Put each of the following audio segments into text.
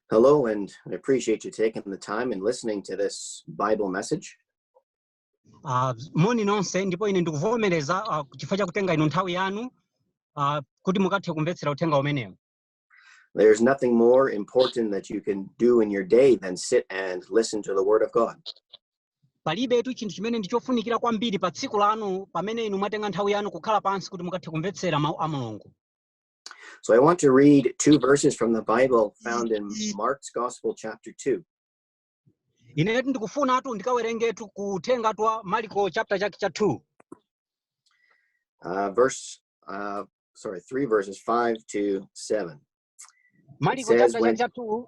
Hello, and I appreciate you taking the time and listening to this Bible message. Ah, moni nonse ndipo ine ndikuvomereza ah, chifukwa cha kutenga inu nthawi yanu ah, kuti mukathe kumvetsera uthenga umenewu There's nothing more important that you can do in your day than sit and listen to the Word of God. palibetu chinthu chimene ndi chofunikira kwambiri pa tsiku lanu pamene inu mwatenga nthawi yanu kukhala pansi kuti mukathe kumvetsera mawu a mulungu So I want to read two verses from the Bible found in Mark's Gospel, chapter 2. inetu ndikufunatu ndikawerengetu kutenga twa mariko chapter chake cha 2 Uh, verse, uh, sorry, three verses, five to seven. mariko says chapter when- chake cha 2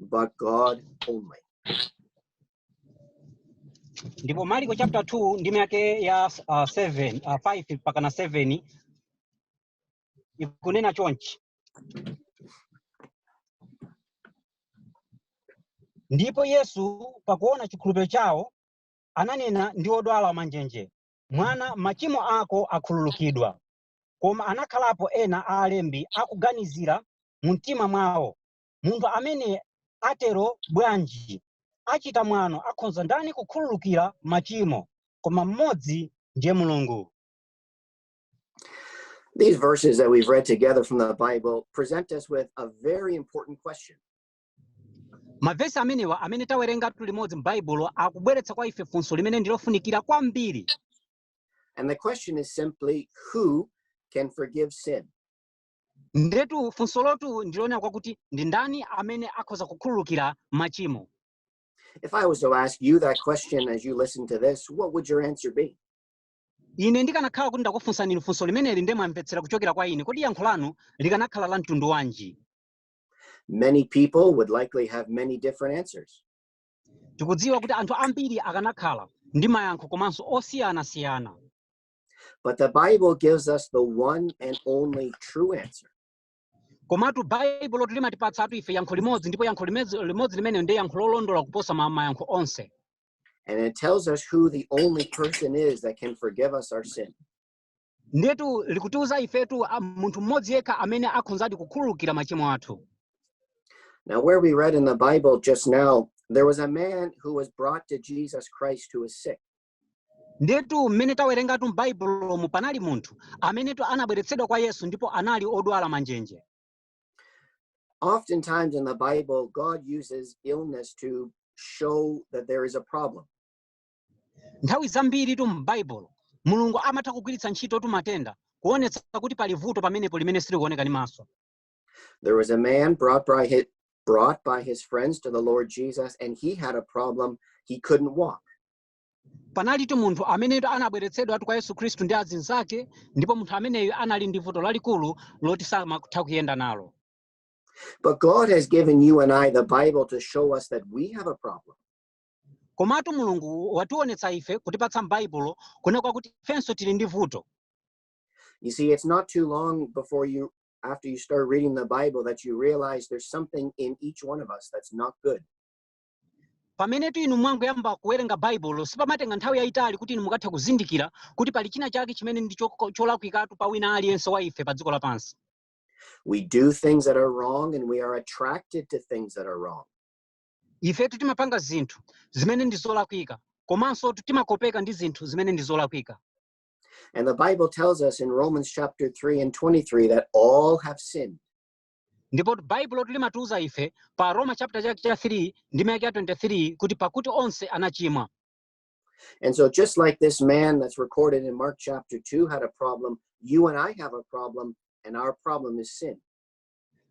but God only. ndipo mariko chapter 2 ndime yake ya uh, 7 uh, 5 mpaka na 7 ikunena chonchi ndipo yesu pakuona chikhulupiriro chawo ananena ndi odwala manjenje mwana machimo ako akhululukidwa koma anakhalapo ena a alembi akuganizira mu mtima mwawo munthu amene atero bwanji? Achita mwano akhonza ndani kukhululukira machimo koma mmodzi ndiye Mulungu? These verses that we've read together from the Bible present us with a very important question. Mavesi amenewa amene tawerengatu limodzi m'Baibulo akubweretsa kwa ife funso limene ndilofunikira kwambiri. And the question is simply who can forgive sin? ndetu funso lotu ndilonena kwakuti ndi ndani amene akhoza kukhululukira machimo If I was to ask you that question as you listen to this, what would your answer be? ine ndikanakhala kuti ndakufunsani inu funso limeneli nde mwamvetsera kuchokera kwa ine kodi yankho lanu likanakhala la mtundu wanji Many people would likely have many different answers. tikudziwa kuti anthu ambiri akanakhala ndi mayankho komanso osiyanasiyana But the Bible gives us the one and only true answer. komatu baibulotu limatipatsatu ife yankho limodzi ndipo yankho limezi- limodzi limene ndi yankho lolondola kuposa ma- mayankho onse And it tells us who the only person is that can forgive us our sin. ndiyetu likutiuza ifetu ah, munthu mmodzi yekha amene akhonzadi kukhululukira machimo athu Now, where we read in the Bible just now, there was a man who was brought to Jesus Christ who was sick. ndetu mmene tawerengatu m'baibulomu panali munthu amenetu anabweretsedwa kwa yesu ndipo anali odwala manjenje Oftentimes in the Bible, God uses illness to show that there is a problem. nthawi zambiritu m'baibulo mulungu amatha kugwiritsa ntchitotu matenda kuonetsa kuti pali vuto pamenepo limene silikuoneka ndi maso There was a man brought by his, brought by his friends to the Lord Jesus, and he had a problem. He couldn't walk. panalitu munthu amenetu anabweretsedwatu kwa yesu khristu ndi azinzake ndipo munthu ameneyo anali ndi vuto lalikulu loti samatha kuyenda nalo But God has given you and I the Bible to show us that we have a problem. komatu mulungu wationetsa ife kutipatsa m'baibulo kunena kwakuti ifenso tili ndi vuto You see, it's not too long before you, after you start reading the Bible, that you realize there's something in each one of us that's not good. pamenetu inu mwangoyamba kuwerenga baibulo sipamatenga nthawi yayitali kuti inu mukathe kuzindikira kuti pali china chake chimene ndi choko- cholakwikatu pa wina aliyense wa ife pa dziko lapansi We do things that are wrong and we are attracted to things that are wrong. ifetu timapanga zinthu zimene ndi zolakwika komansotu timakopeka ndi zinthu zimene ndi zolakwika And the Bible tells us in Romans chapter 3 and 23 that all have sinned. ndipo baibulo limatiuza ife pa Aroma chapter chake cha 3 ndime yake ya 23 kuti pakuti onse anachimwa And so, just like this man that's recorded in Mark chapter 2 had a problem, you and I have a problem, and our problem is sin.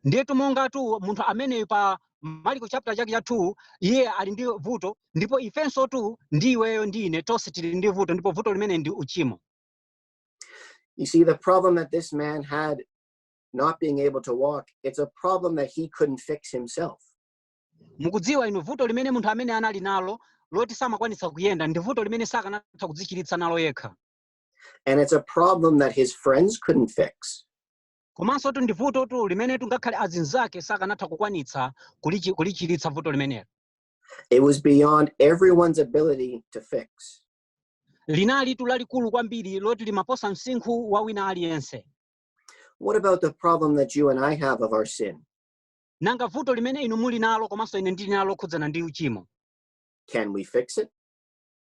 ndiyetu mongatu munthu ameneyo pa maliko chapter chake cha 2 iye ali ndi vuto ndipo ifensotu ndi iweyo ndi ine tonse tili ndi vuto ndipo vuto limene ndi uchimo You see, the problem that this man had not being able to walk, it's a problem that he couldn't fix himself. mukudziwa inu vuto limene munthu amene anali nalo loti samakwanitsa kuyenda ndi vuto limene sakanatha kudzichiritsa nalo yekha And it's a problem that his friends couldn't fix. komansotu ndi vutotu limenetu ngakhale azinzake sakanatha kukwanitsa kulichi- kulichiritsa vuto limenelo It was beyond everyone's ability to fix. linalitu lalikulu kwambiri loti limaposa msinkhu wa wina aliyense What about the problem that you and I have of our sin? nanga vuto limene inu muli nalo komanso ine ndili nalo lokhudzana ndi uchimo Can we fix it?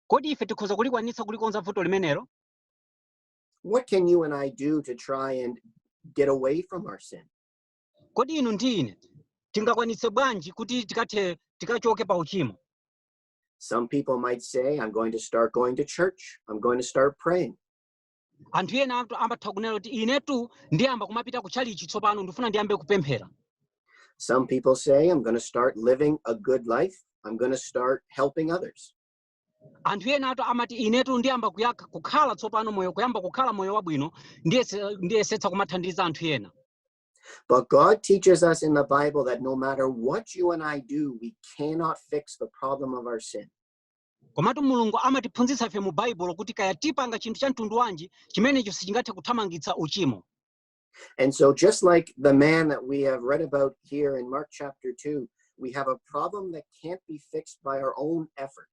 kodi ife tikhoza kulikwanitsa kulikonza vuto limenelo What can you and I do to try and get away from our sin? kodi inu ndi ine tingakwanitse bwanji kuti tikathe tikachoke pa uchimo Some people might say, I'm going to start going to church. I'm going to start praying. anthu enatu amatha kunena kuti inetu ndiyamba kumapita ku chalichi tsopano ndifuna ndiyambe kupemphera Some people say, I'm going to start living a good life. I'm going to start helping others. anthu enatu amati inetu ndiyamba kuyakha kukhala tsopano moyo kuyamba kukhala moyo wabwino ndiyese- ndiyesetsa kumathandiza anthu ena But God teaches us in the Bible that no matter what you and I do, we cannot fix the problem of our sin. Komatu Mulungu amatiphunzitsa ife mu Baibulo kuti kaya tipanga chinthu cha mtundu wanji, chimenecho sichingathe kuthamangitsa uchimo. And so, just like the man that we have read about here in Mark chapter 2, we have a problem that can't be fixed by our own effort.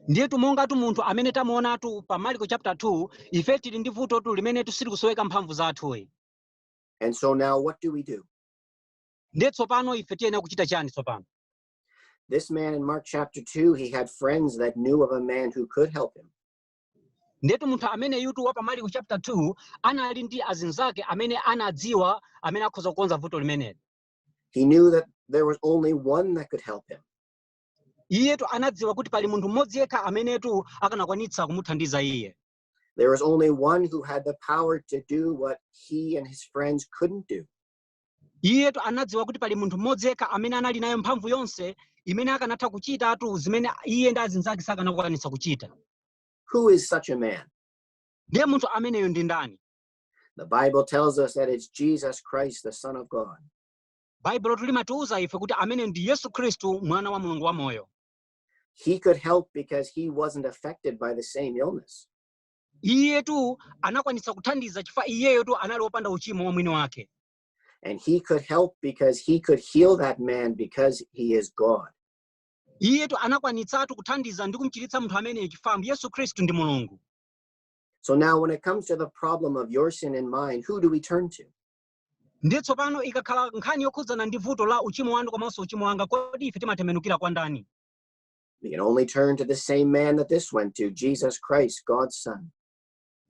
ndiyetu mongatu munthu amene tamuonatu pa marko chapter 2 ife tili ndi vutotu limenetu silikusoweka mphamvu zathuyi And so, now what do we do? ndiye tsopano ife tiyenera kuchita chani tsopano This man in Mark chapter 2, he had friends that knew of a man who could help him. ndiyetu munthu ameneyutu wa pa mariko chapter 2 anali ndi azinzake amene anadziwa amene akhoza kukonza vuto limeneli He knew that there was only one that could help him. iyetu anadziwa kuti pali munthu mmodzi yekha amenetu akanakwanitsa kumuthandiza iye There was only one who had the power to do what he and his friends couldn't do. iyetu anadziwa kuti pali munthu mmodzi yekha amene anali nayo mphamvu yonse imene akanatha kuchitatu zimene iye ndi azinzake sakanakwanitsa kuchita Who is such a man? ndiye munthu ameneyo ndi ndani The Bible tells us that it's Jesus Christ, the Son of God. baibulotu limatiuza ife kuti ameneyo ndi yesu khristu mwana wa mulungu wamoyo He could help because he wasn't affected by the same illness. iyetu anakwanitsa kuthandiza chifukwa iyeyotu anali wopanda uchimo wa mwini wake And he could help because he could heal that man because he is God. iyetu anakwanitsatu kuthandiza ndi kumchiritsa munthu ameneyo chifukwa yesu khristu ndi mulungu So now, when it comes to the problem of your sin and mine, who do we turn to? ndiye tsopano ikakhala nkhani yokhudzana ndi vuto la uchimo wanu komanso uchimo wanga kodi ife timatembenukira kwa ndani We can only turn to the same man that this went to, Jesus Christ, God's Son.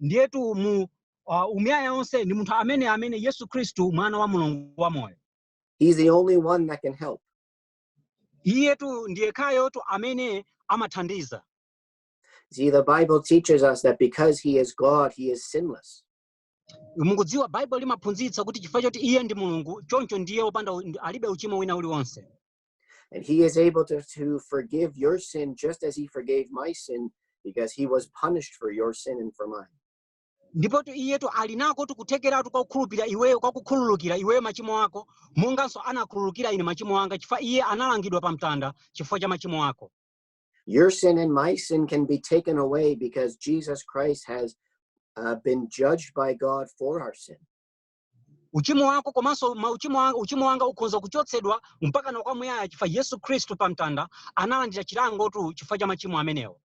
ndiyetu mu uh, umuyaya wonse ndi munthu amene amene yesu khristu mwana wa mulungu wamoyo He's the only one that can help. iyetu ndi yekhayotu amene amathandiza See, the Bible teaches us that because he is God, he is sinless. mukudziwa baibulo limaphunzitsa kuti chifukwa choti iye ndi mulungu choncho ndiye wopanda u- ndi- alibe uchimo wina uliwonse And he is able to, to forgive your sin just as he forgave my sin because he was punished for your sin and for mine. ndipotu iyetu ali nakotu kuthekeratu kwa kukhulupirira iweyo kwa kukhululukira iweyo machimo ako monganso anakhululukira ine machimo anga chifukwa iye analangidwa pa mtanda chifukwa cha machimo ako Your sin and my sin can be taken away because Jesus Christ has uh, been judged by God for our sin. uchimo wako komanso uchimo wanga ukhonza kuchotsedwa mpaka na kwamuyaya chifukwa yesu khristu pa mtanda analandira chilangotu chifukwa cha machimo amenewo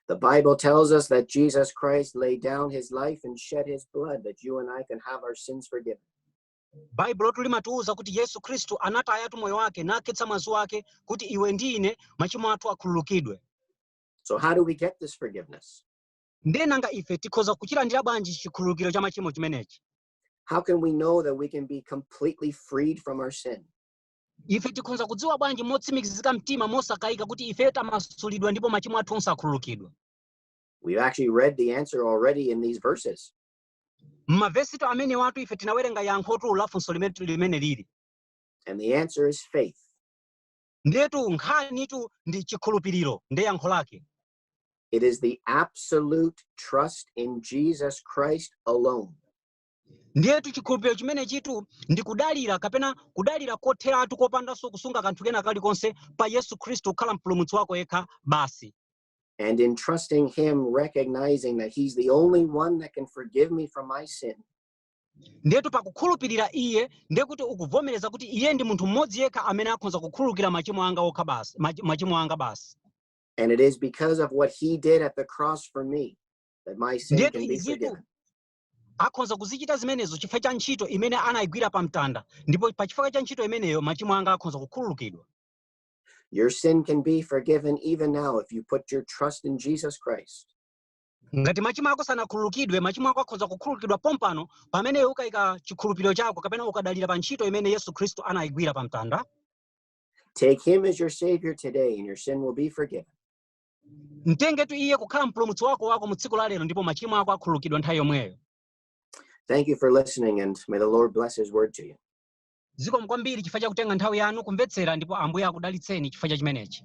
The Bible tells us that Jesus Christ laid down his life and shed his blood that you and I can have our sins forgiven. baibulotu limatiwuza kuti yesu khristu anatayatu moyo wake nakhetsa mwazi wake kuti iwe ndi ine machimo athu akhululukidwe So, how do we get this forgiveness? Ndiye nanga ife tikhoza kuchilandira bwanji chikhululukiro cha machimo chimenechi? How can we know that we can be completely freed from our sin? Ife tikhoza kudziwa bwanji motsimikizika mtima mosakayika kuti ife tamasulidwa ndipo machimo athu onse akhululukidwa? We've actually read the answer already in these verses. M'mavesitu amenewatu ife tinawerenga yankhotu la funso limene limene lili. And the answer is faith. Ndiyetu nkhanitu ndi chikhulupiriro ndi yankho lake. It is the absolute trust in Jesus Christ alone. ndiyetu chikhulupiriro chimenechitu ndi kudalira kapena kudalira kotheratu kopandanso kusunga kanthu kena kalikonse pa yesu khristu kukhala mpulumutsi wako yekha basi And in trusting Him, recognizing that He's the only one that can forgive me from my sin, ndiyetu pakukhulupirira iye ndiye kuti ukuvomereza kuti iye ndi munthu mmodzi yekha amene akhoza kukhululukira machimo anga okha basi machimo anga basi And it is because of what he did at the cross for me that my sin ndiyetu can be izitu forgiven. akhoza kuzichita zimenezo chifukwa cha ntchito imene anayigwira pa mtanda ndipo pa chifukwa cha ntchito imeneyo machimo anga akhoza kukhululukidwa Your sin can be forgiven even now if you put your trust in Jesus Christ. ngati machimo ako sanakhululukidwe machimo ako akhoza kukhululukidwa pompano pamene ukayika chikhulupiriro chako kapena ukadalira pa ntchito imene yesu khristu anayigwira pa mtanda Take him as your Savior today, and your sin will be forgiven. mtengetu iye kukhala mpulumutsi wako wako mu tsiku la lero ndipo machimo ako akhululukidwa nthawi yomweyo Thank you for listening, and may the Lord bless his word to you. zikomo kwambiri chifukwa cha kutenga nthawi yanu kumvetsera ndipo ambuye akudalitseni chifukwa cha chimenechi